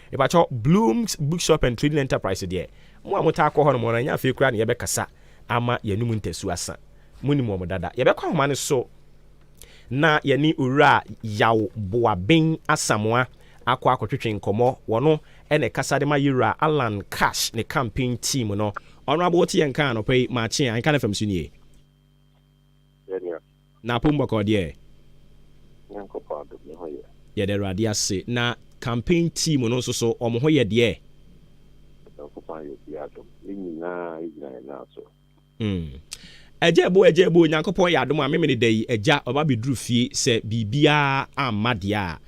Mepakyɛw, Bloom's Bookshop and Trading Enterprise deɛ, mo a motaa kɔ hɔnom no, ɛnyɛ afei koraa na yɛbɛkasa ama yɛanom ntasu asa. Munim wɔn dada. Yɛbɛkɔ ahoma no so na yɛne Owura Yaw Boaben Asamoah akɔ akɔtwetwe nkɔmmɔ. Wɔno na ɛkasa de ma Yewura Allan Cash ne campaign team no. Honourable, wote yɛn nka anɔpa yi, Maakye a, nka no fam so nie. Yɛdeɛ. Na apom bɔkɔɔ deɛ. Nyankopɔn adom ne ho yɛ. Yɛda Awurade ase. Na campaign team no nso so wɔn ho yɛ deɛ. Nyankopɔn ayɛ obiara adom. Yɛn nyinaa yɛgyina yɛn nan so. Hmm. Agya Ebo, Agya Ebo, Nyankopɔn yɛ adom a memene da yi agya ɔba bɛduru fie sɛ biribiara amma deɛ a.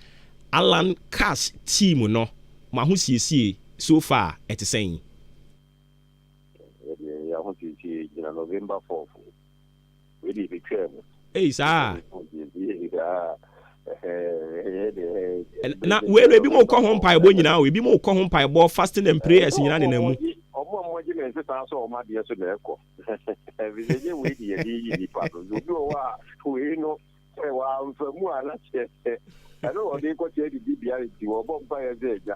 Allan Cash team no mo ahosiesie so far ɛte sɛn? Yɛdeɛ yɛn ahosiesie yɛgyina November 4th. Wede betwaa mu. Ei saa. Na wei no ebi mu kɔ ho mpaebɔ nyinaa o ebi mu kɔ ho mpaebɔ fasting and prayers nyinaa ne na mu. Ọmọ ọmọ gye na nse saa sọ ọmọ adeɛ so na ɛkɔ. Ɛfisɛ nye wei de yɛde yi nipa no. Obi wɔ hɔ a wei no sɛ wɔamfa mu a na kyerɛ sɛ ɛno na ɔde kɔkyerɛ de di bea nti wɔbɔ mpaeɛ sɛ agya.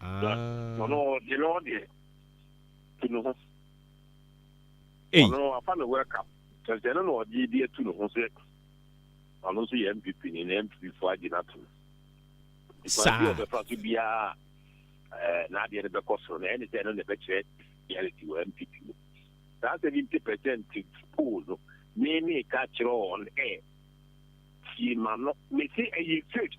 Ah. Ɔno deɛ no deɛ tu ne ho. Ɔno afa no welcome. Sɛsɛ no na ɔde bi atu ne ho sɛ ɔno nso yɛ MPP ni na MPP fo agye no atom. Saa. Bi ɔbɛfa so biara ɛɛ n'adeɛ no bɛkɔ soro na ɛne sɛ ɛno na ɛbɛkyerɛ reality wɔ MPP mu. Saa seventy percent poll no me me ka kyerɛ wɔn ɛ tie ma no mesi ɛyɛ fake.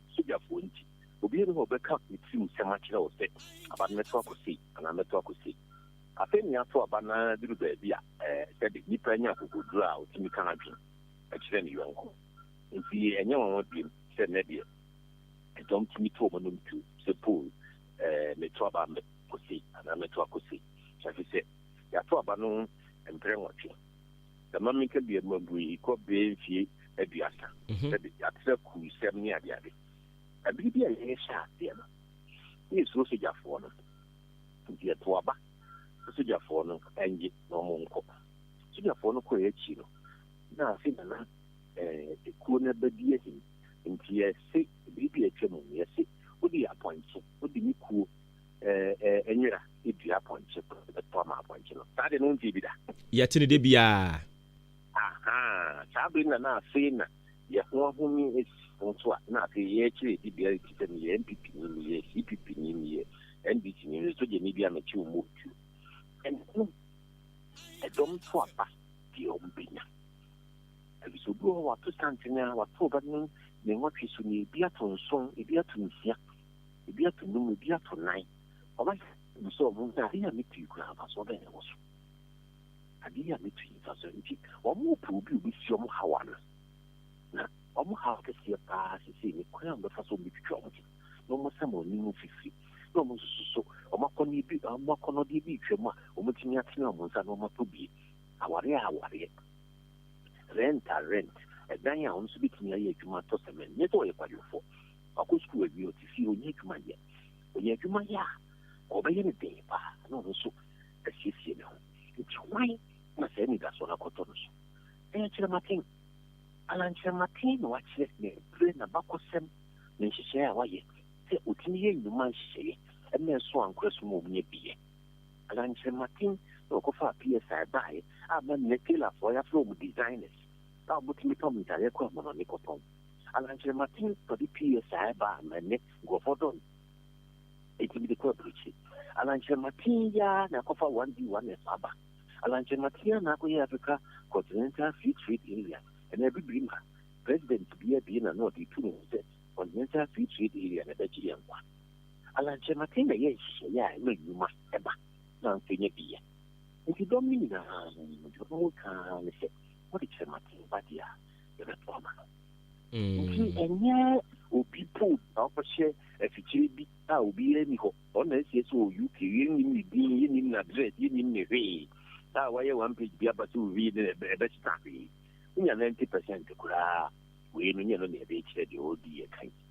sogyafoɔ nti, obiara nni hɔ a ɔbɛka ne tirim nsɛm akyerɛ wo sɛ, Aba no, mɛto akɔ sei, anaa mɛto akɔ sei. Afei nea ato aba no ara duru baabi a, ɛɛ, sɛbe, nipa nya akokoduru a ɔtumi ka n'adwene kyerɛ ne yɔnko. Enti ɛnyɛ nwanwa bio sɛ nnɛ deɛ, dɔm tumi to wɔn anom duru sɛ, Paul, ɛɛ, meto aba mɛkɔ sei, anaa mɛto akɔ sei. Ɛfiri sɛ, yɛato aba no mprɛ nwɔtwe. Sɛ ma menka bi a, mabue kɔ bɛyɛ mfie aduasa sɛ de atrɛ kuusɛm ne adeade. Bere bi a yɛhyɛɛ aseɛ no, na yɛsuro sogyafoɔ no, nti yɛtoo aba sɛ sogyafoɔ no nnye na wɔnkɔ. Sogyafoɔ no kɔeɛ akyi no, na afei na na ekuo no abɛdi ahim, nti yɛse bere bi a atwam no, yɛse wode yɛ apɔnkye, wode me kuo ɛɛ, nwera dua apɔnkye bɛto ama apɔnkye no. Saa de no wontee bi da? Yɛte no da biara. Ahaa, saa bere no na na afei na yɛn ho ahomi asi yɛn ho so a na afei yɛrekyerɛ yɛn dibea efisɛ meyɛ NPP ni, meyɛ CPP ni, meyɛ NDC ni, me sogyani bi a mekyew mmɔɔ tuo. Ɛnna no ɛdɔm to aba deɛ wɔbɛnya. Ɛfiri sɛ obi wɔ hɔ wato santene a, wato ɔba no ne nwɔtwe so, na ebi ato nson, ebi ato nsia. ebi ato num, ebi ato nan. Ɔbɛka no sɛ wɔn sɛ ade yi a mitui koraa mfasoɔ bɛn na ɛwɔ so? Ade yi a mitui mfasoɔ nti wɔrepɛ obi a obesie wɔn haw ano. Na wɔn haw kɛseɛ paa sesei ne kwan a wɔbɛfa so wɔbetwitwa wɔn ho na wɔasam wɔn anim mfifiri na wɔn nso so wɔn akɔnnɔ bi wɔn akɔnnɔdeɛ bi retwam a wɔbetumi atene wɔn nsa na wɔatɔ bi. Awareɛ a awareɛ, rent a rent, ɛdan a wɔn nso betumi ayɛ adwuma atɔ sɛmɛn, nyɛ sɛ wɔyɛ kwadwofoɔ. Wakɔ sukuu awie, ɔte fie, ɔnnya adwuma nyɛ. Ɔnya adwuma yɛ a, ɔbɛyɛ no den paa na ɔno nso asiesie ne ho. Enti hwan na saa anidasoɔ no akɔtɔ no so? Ɛyɛ kyerɛmaten. Alan Kyerɛmaten na wakyerɛ n'abire, n'abakɔsɛm, ne nhyehyɛeɛ a wayɛ sɛ ɔtumi yɛ nnwuma nhyehyɛeɛ na ɛso ankorɛ so ma ɔmu nya bi yɛ. Alan Kyerɛmaten na ɔkɔfaa PSI baeɛ a na nnɛ tailorfoɔ yɛafrɛ wɔn designers a wɔtumi pam ntadeɛ kɔ ahonhone kɔtɔn. Ana nkyerɛ m'atsɛn padi pii yɛ saa ba a mbrɛ ndɛ nkorɔfoɔ dɔ no ntsi medze kɔ aburukyi? Ana nkyerɛ m'atsɛn yi ara na akɔfa one D one F aba? Ana nkyerɛ m'atsɛn yi ara na akɔyɛ Africa Continental Free Trade Area anaa Ebibir ma President bia bie na no ɔdze etu noho sɛ Continental Free Trade Area na ɛbɛgye yɛn nkwa? Ana nkyerɛ m'atsɛn na ɛyɛ nhyehyɛɛ a ɛma ndwuma ba na nso nya bi yɛ? Ntsi dɔm no nyinaa no, dza ɔwɔ mu nkaa ara nye sɛ wɔdze kyerɛ m'atsɛn ba dze a yɛbɛto ama no. Nti ɛnyɛ obi po na ɔkɔhyɛ afikyire bi a obiara ni hɔ. Ɔno na ɛsi ɛsɛ wɔ UK. Yɛnnim ne din, yɛnnim n'address, yɛnnim ne hwee. A wayɛ one page bi aba sɛ owie ne ɛbɛsesa hwee. Wonya ninety percent koraa wei no nyɛ no na ɛbɛkyerɛ deɛ ɔredi yɛ kan.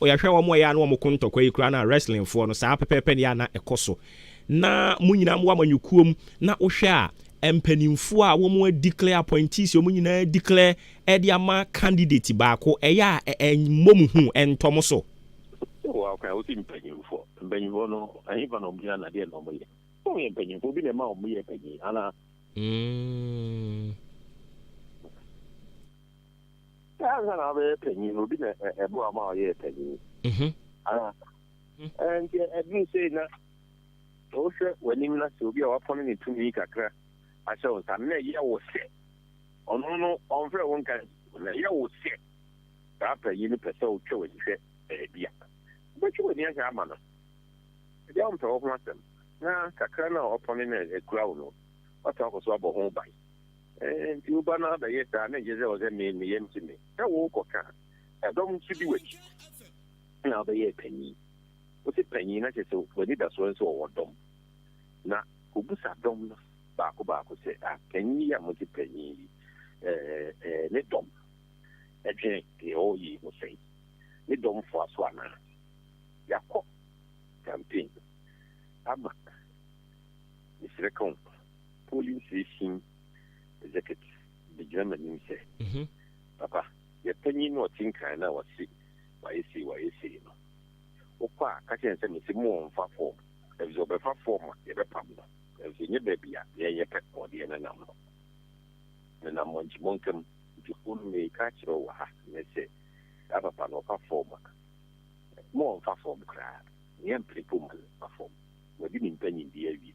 O yɛ hwɛ wɔn a ɛyɛ a na wɔn ko ntɔkwa yi koraa na wrestling foɔ no saa pɛpɛɛpɛ ne yɛ a na ɛkɔ so na mo nyinaa mo wɔ amanyɔkuo mu na wo hwɛ a mpaninfoɔ a wɔn a declare appointees wɔn nyinaa declare de ama candidate baako ɛyɛ a ɛmmɔ mo hu ɛntɔ mo so. Wɔ a kan wo si mpaninfoɔ mpaninfoɔ no ɛhefa na wɔn gyina na deɛ na wɔn yɛ wɔn yɛ mpaninfoɔ obi na ɛma wɔn yɛ panin anaa. Mm. Sɛ ansa na wobɛyɛ panyin no, obi na ɛboa wo ma ɔyɛɛ panyin anaa? Nti ɛduru sei na wohwɛ w'anim na sɛ obi a wapɔn ne tumi kakra ahyɛ wo nsa no, na ɛyɛ wo sɛ ɔno no ɔmfrɛ wo nka nsi wo, na ɛyɛ wo sɛ saa panyin no pɛ sɛ ɔtwa w'ani hwɛ baabi a, wobɛtwe w'ani ahwɛ ama no? Ebia ɔmpɛ wo ho asɛm, na kakra no a wapɔn no na ɛkura wo no, woasan akɔ so abɔ ho ban. Enti wo ba no abɛyɛ saa na ɛnkyerɛ sɛ ɔsɛ me, me yam te me sɛ worekɔka ɛdɔm nso di w'akyi na wobɛyɛɛ panyin. Wote panyin na kyerɛ sɛ w'anidasoɔ ne sɛ wɔwɔ dɔm. Na kɔbisa dɔm no baako baako sɛ, Ah, panyin yi a mote panyin yi, eh, ne dɔm dwene deɛ ɔreyɛ yi ho sɛn? Ne dɔm foa so anaa? Yɛakɔ campaign ama, mesrɛ ka wo. Polling Station Executive begyina m'anim sɛ, Papa, yɛn panyin no a ɔte nkan no a wɔse wayɛ sei wayɛ sei no, wokɔ a, ka kyerɛ no sɛ mise mo ɔmfa fɔɔm, efisɛ ɔbɛfa fɔɔm a, yɛbɛpam no, nanso ɛnyɛ baabi a na yɛnyɛ pɛ na ɔde yɛn nenam no. Menam monkyi mɔnka mu, nti hunu no mereka akyerɛ wo wɔ ha nnɛ sɛ, saa papa no, ɔfa fɔɔm a, mo ɔmfa fɔɔm koraa, na yɛmpene mpo mma no mfa fɔɔm. Wadi ne mpanyindie awie.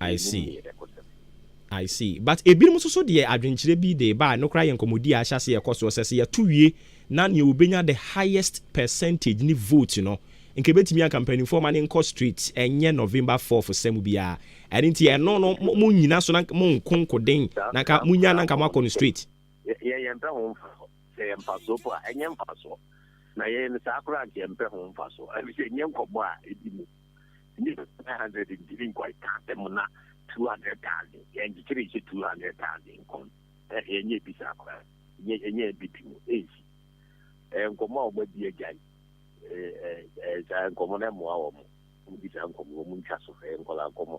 I see. I see. But ebinom nso so deɛ adwenkyerɛ bi de ba a no koraa yɛ nkɔmmɔdi a ahyɛ ase yɛkɔ soɔ sɛ sɛ yɛto wie na nea obenya the highest percentage ne vote no nka ebetumi anka mpanimfoɔ ma ne nkɔ straight ɛnyɛ November 4th sɛm biara ɛno nti ɛno no mo mo nyina so na mo nko nkoden na nka mo nya na nka mo akɔ no straight. Yɛ yɛn mpɛ ho nfa so sɛ yɛn mfa so po a ɛnyɛ mfa soɔ na yɛn saa koraa nka yɛn mpɛ ho nfa so ɛfisɛ nyɛ nkɔmmɔ a edi mu. Nnipa bɛyɛ 900 ntumi nkɔ ntaadan mu na 200,000 yɛ nkyekyere nhyɛ 200,000 nkɔm ɛ yɛnyɛ bi saa koraa nyɛ yɛnyɛ bi bi mu ɛnsi ɛ nkɔmmɔ a wɔadi agyae ɛ ɛ ɛ saa nkɔmmɔ no ɛmmoa wɔn wɔn bi saa nkɔmmɔ wɔn ntwa so ɛ nkɔla nkɔmmɔ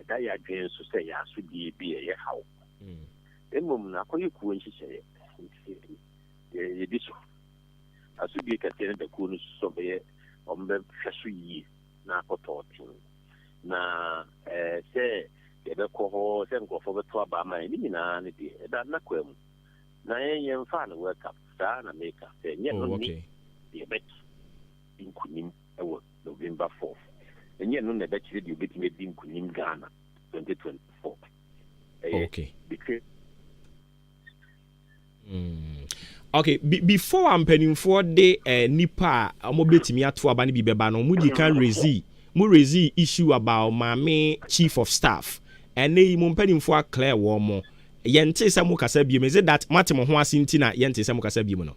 ɛda yɛn adwene so sɛ yɛn asodie bi a ɛyɛ haw. Mmom no, akɔyɛ kuo nhyehyɛeɛ nti na yɛdi so. Asodie kɛseɛ no da kuo no so sɛ ɔbɛyɛ wɔbɛhwɛ so yie na akɔ tɔɔten, na ɛɛ sɛ yɛbɛkɔ hɔ, sɛ nkurɔfoɔ bɛto aba ama yɛn, ne nyinaa no deɛ ɛda n'akwaa mu. Na yɛn yɛmfaa no World Cup saa na meka sɛ ɛnyɛ ɛno ne deɛ ɛbɛto nkunim. wɔ November fourth. Ɛnyɛ ɛno na ɛbɛkyerɛ deɛ obetumi adi nkunim Ghana twenty twenty four. Ɛyɛ okay. between. Mm. Okay, be before a mpanimfoɔ de eh, nipa a wɔbɛtumi ato aba no bi bɛba no wɔn di kan rezi mo rezi issue about maame chief of staff ɛnna yi mo mpanimfoɔ aklɛ wɔn mo yɛnte sɛ mo kasa biem is it that mo ate mo ho ase nti na yɛnte sɛ mo kasa biem no.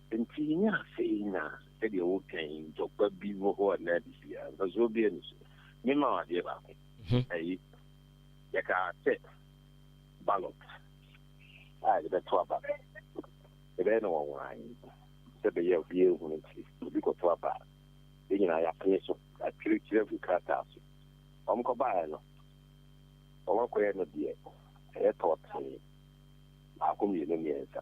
Enti yenya afei na sɛdeɛ woka yi ntɔkwa bi wɔ hɔ anaa de si a, mfasoɔ bɛn no so? Mema wo adeɛ baako. Ɛyi, yɛkaa sɛ ballot a yɛbɛto aba no, yɛbɛyɛ no nwanwa yi sɛ bɛyɛ a obiara nhunu nti, obi kɔto aba a, yɛn nyinaa yɛapene so, yɛatwerɛtwerɛ agu krataa so. Wɔn kɔbaeɛ no, wɔn akɔyɛ no deɛ ɛyɛ tɔɔtee, baako, mmienu, mmiɛnsa.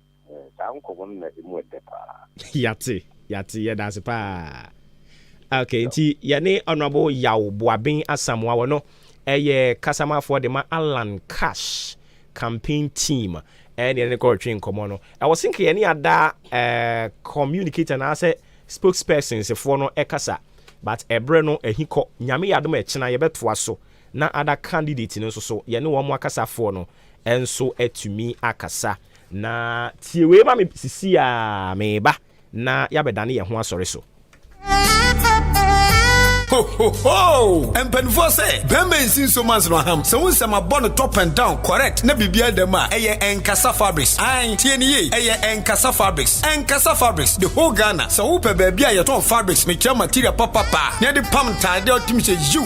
Eh, saa nkɔmmɔ no na emu ɛdɛ paa. Yate, yate, yɛda ase paa. Ok, nti yɛne Honorable Yaw Boaben Asamoah wɔ no ɛyɛ kasamafoɔ de ma Allan Cash campaign team ɛne yɛne no kɔretwe nkɔmmɔ no. Ɛwɔ se nka yɛne ada eh, communicator anaasɛ spokespersons foɔ no ɛkasa but ɛberɛ no ahi kɔ. Nyame yɛ adom a ɛkyena yɛbɛtoa so na ada candidate no nso so yɛne wɔn akasafoɔ no nso atumi akasa. Na tie wei ma me sisi a meba na yɛabɛdane yɛn ho asɔre so. mpanimfoɔ sɛ bɛrima nsi nso ma nsono aham sɛ wo nsɛm abɔ no top and down correct na biribiara dam a ɛyɛ ɛnkasa fabrics an tie ne yie ɛyɛ ɛnkasa fabrics ɛnkasa fabrics the whole ghana sɛ wopɛ baabi a yɛtɔn fabrics mekyerɛ material papapa na yɛde pam ntaadeɛ ɔtem sɛ yiw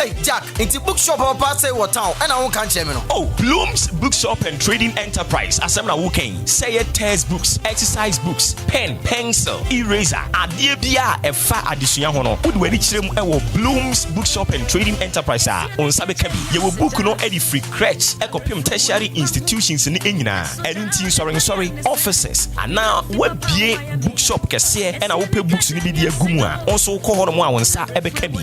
Ei Jack, nti bookshop a ɔpaa sei wɔ town ɛna wonka nkyerɛ me no? Oh, Bloom's Bookshop and Trading Enterprise asɛm na woka yi? Sɛ ɛyɛ test books, exercise books, pen, pencil, eraser, adeɛ biara a ɛfa adesua ho no, wode w'ani kyerɛ mu wɔ Bloom's Bookshop and Trading Enterprise a, wo nsa bɛka bi. Yɛwɔ book no de firi crèche kɔpem tertiary institutions no nyinaa. Ɛno nti nsɔrensɔre, offices, anaa woabue bookshop kɛseɛ na wopɛ books no bi de agu mu a, wo nso wokɔ hɔnom a wo nsa bɛka bi.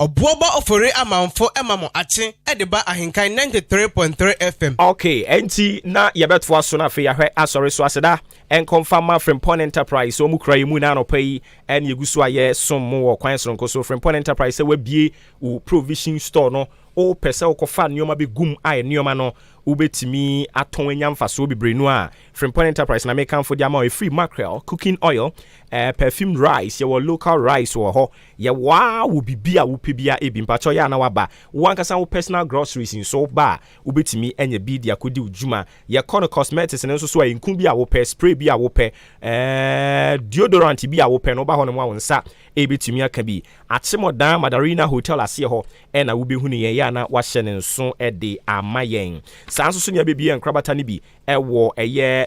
Ɔboɔ bɔ ofori amanfo ma mo akye de ba ahenkan ninety three point three FM. Ok ɛnti na yɛbɛtoa so na afei yɛahwɛ asɔre so aseda ɛnkɔ mfa ma Frimpong Enterprise ɔmu kura yɛ mu na anɔpa yi ɛne yɛgu so a yɛsom mo wɔ kwan soronko so Frimpong Enterprise sɛ wabie wo provision store no wopɛ sɛ wokɔfa nneɛma bɛgum a nneɛma no wobɛtumi atɔn anya mfasoɔ bebree no a Frimpong Enterprise na mekamfo de ama ɛfiri mackerel cooking oil eh, perfumed rice yɛwɔ local rice wɔ hɔ Yɛ wo ara wɔ biribi a wopɛ biara ebi mpakyɛw yɛ a na waba wo ankasa wo personal groceries nso wo ba a wobɛtumi anya bi de akɔdi wo dwuma yɛ kɔ no cosmetics no nso so a nku bi a wopɛ spray bi a wopɛ eh deodorant bi a wopɛ no woba hɔ nom a wo nsa ɛbɛtumi aka bi akyemɔdan Madarina hotel aseɛ hɔ ɛna wobɛhunu yɛn yɛ a na wahyɛ ne nso de ama yɛn saa nso so nea bɛbie nkorabata no bi ɛwɔ ɛyɛ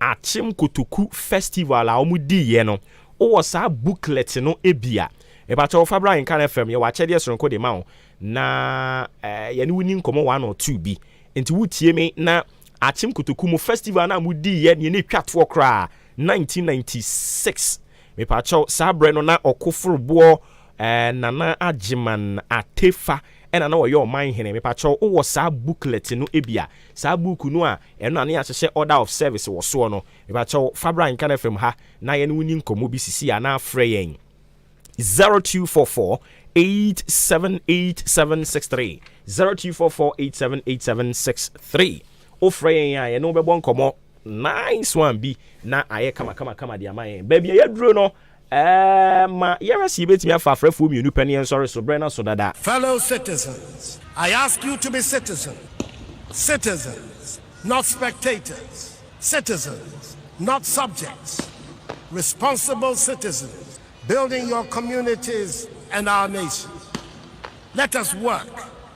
Akyem Kotoku Festival a wɔn di yɛ no wo wɔ saa booklet no bi a mepakyɛw fa bra Nkan FM yɛ wɔ akyɛdeɛ soronko de ma wo na yɛ ne wo ni nkɔmɔ one or two bi nti wo tie me na Akyem Kotoku mo festival no a mo di yɛ neɛ ne twa toɔ koraa 1996 mepakyɛw saa berɛ no na ɔkoforoboɔ eh, Nana Agyeman Atefa Ɛna na ɔyɛ ɔman hene. Mepakyɛw wo wɔ saa booklet no bi a, saa buuku no a ɛno na ne yɛahyehyɛ order of service wɔ soɔ no, mepakyɛw fa bra Nkana FM ha na yɛne wo nni nkɔmmɔ bi sisi anaa frɛ yɛn 0244878763, 0244878763. Wofrɛ yɛn a yɛne wo bɛbɔ nkɔmmɔ nice one bi na ayɛ kamakamakama de ama yɛn. Baabi a yɛaduro no, Ɛma yɛhwɛ sɛ yebetumi afa afrɛfo mmienu pɛ ne yɛn nsɔre so bere no aso dada. Fellow citizens, I ask you to be citizens, citizens, not spectators, citizens, not subjects, responsible citizens building your communities and our nation. Let us work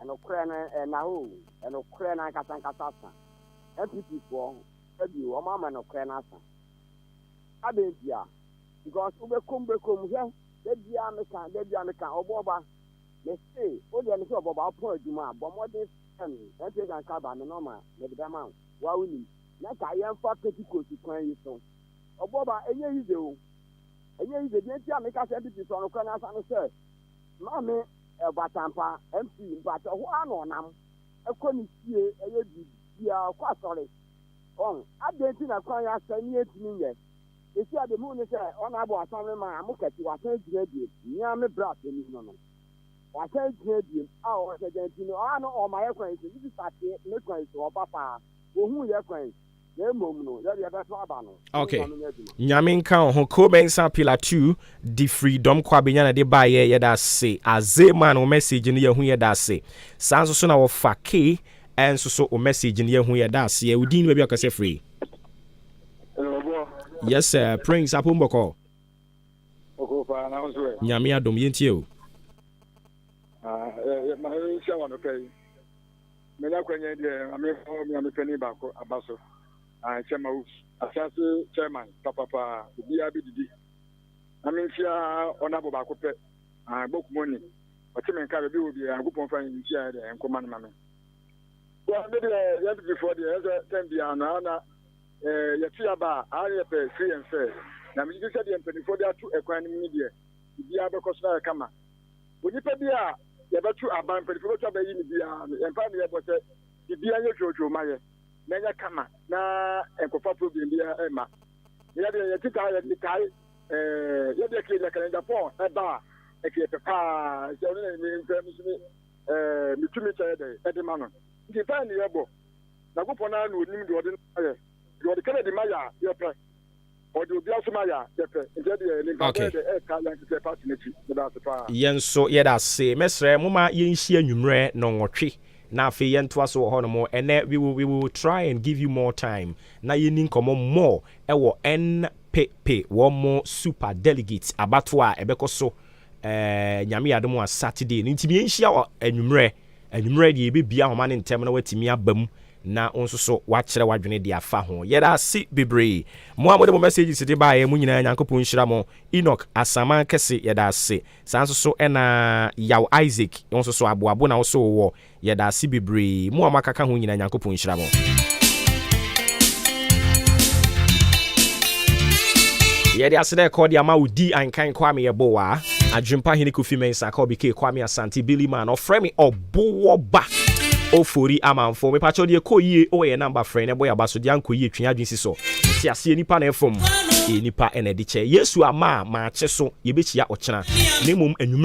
Ɛnokorɛ no ɛna hɔ oo, ɛnokorɛ no ankasa ankasa asa. NPP foɔ ɛbio wɔn ama nokorɛ no asa. Adɛn ntia? Because wobɛkom bɛkom hwɛ dabiaa meka dabiaa meka ɔbɔba mese wodeɛ mese ɔbɔba wopɔn adwuma a bɔ mmɔden frɛ me NPH anka aba me nɔma mede bɛma wo woa wonim na ka yɛmfa pentecost kwan yi so ɔbɔba ɛnyɛ yize o ɛnyɛ yize deɛ ntia meka sɛ NPP so ɔnokorɛ no asa ne sɛ Maame Ɛboatampa MP mpakyɛ hɔ ara na ɔnam kɔ ne fie ɛyɛ biribiaa ɔkɔ asɔre wɔn adɛn nti na kwan yɛ asɛe ne yɛntumi nyɛ sɛsi a deɛ mehu ne sɛ ɔna abɔ asamre ma mo kɛse wasan agyina biem nea me bra panin no no wasan agyina biem a ɔsɛ dɛn nti no ɔa no ɔma yɛ kwan yi so ne sista teɛ ne kwan yi so ɔba paa wɔhu yɛ kwan na mmom no yɛde ɛbɛto aba no okay nyame nka wo ho ko bɛnsa pila 2 de firi dɔm kɔ abɛnya na de baeɛ yɛda ase aze man wo message no yɛhu yɛda ase saa nso so na wɔfa ke ɛnso so wo message no yɛhu yɛda ase yɛ wodin no baabi akɔsɛ firi yes sir prince apo mbɔkɔ nyame adom yɛntie o ah, eh, eh, Manya akwanya yi deɛ ma me hɔ mea me panin baako aba so ae kyɛ ma wo afiase chairman papapa obiaa bɛ didi na me ntia honourable baako pɛ ae bɔ kumoni ɔte me nka bɛbi wɔ biaa Nyankopɔn fa ntia yɛ deɛ nkoma no ma me. Well me deɛ yɛ NPP foɔ deɛ ɛsɛ time biaa no ae na yɛ to yaba a ae na yɛ pɛ free and fair na me gyedi sɛ deɛ mpaninfoɔ de ato ɛkwan no mu no deɛ biribiaa bɛkɔ so na ayɛ kama. Onipa bi a yɛbɛto aba, mpanyimfo bɛto aba ayi no biara no, yɛn mpae na yɛbɔ sɛ biribiara nyɛ twootwoo mma yɛn, na ɛnyɛ kama, na ɛnkɔfa problem biara mma. Na yɛn deɛ, yɛte saa a, yɛde kae ɛɛ, yɛn deɛ kee na kalenda pɔn ɛba a, ɛka yɛ pɛ paa, sɛ ɔno na me mpɛ, me so me ɛɛ, me tumi kyɛ yɛ dɛn ɛde ma no. Nti mpae na yɛbɔ, Nyankopɔn no ara na ɔnim deɛ ɔde no ma yɛ, deɛ ɔde kaladi ma yɛ a, yɛpɛ, Ɔde obi asom ayɛ a, yɛpɛ. Nti ɛdeɛ, ne mpaebɔ yɛ dɛ ɛɛka yɛn kɛkɛ party no akyi. Meda ase paa. Yɛn nso yɛda ase. Mɛsrɛ momma yɛnhyia anwummerɛ nnɔnwɔtwe na afei yɛntoa so wɔ hɔnom. Ɛnnɛ, we will, we will try and give you more time na yɛnni nkɔmmɔ more wɔ NPP wɔn super delegates abatoɔ a ɛbɛkɔ so, ɛɛ, Nyame yɛ adom a, Saturday no. Nti meyɛnhyia wɔ anwummerɛ. Anwummere deɛ yɛbɛbia homa no ntɛm na woatumi aba mu na wo nso so woakyerɛ w'adwene deɛ afa ho. Yɛda ase bebree mo a mode mo messages de baeɛ mo nyinaa Nyankopɔn nhyira mo. Enoch Asaman kɛse yɛda ase. Saa nso so na Yaw Isaac wo nso so aboabo na wo so wowɔ. Yɛda ase bebree mo a mo aka ka ho nyinaa Nyankopɔn nhyira mo. Yɛde aseda ɛkɔ de ama wo di ankan Kwame Yeboah. Adwempa Hene Kofi Mensah ka Obi Kay Kwame Asante Billy Man ɔfrɛ me ɔboɔba Ofori Amanfo mepakyɛw deɛ ɛkɔ yie wɔ yɛn number frɛ na ɛbɔ yɛn aba so deɛ ankɔ yie twe yɛn adwene si so te aseɛ nipa na ɛfom nipa na ɛde kyɛ Yesu ama a maakye so yɛbɛkyia ɔkyena na mmom anwummerɛ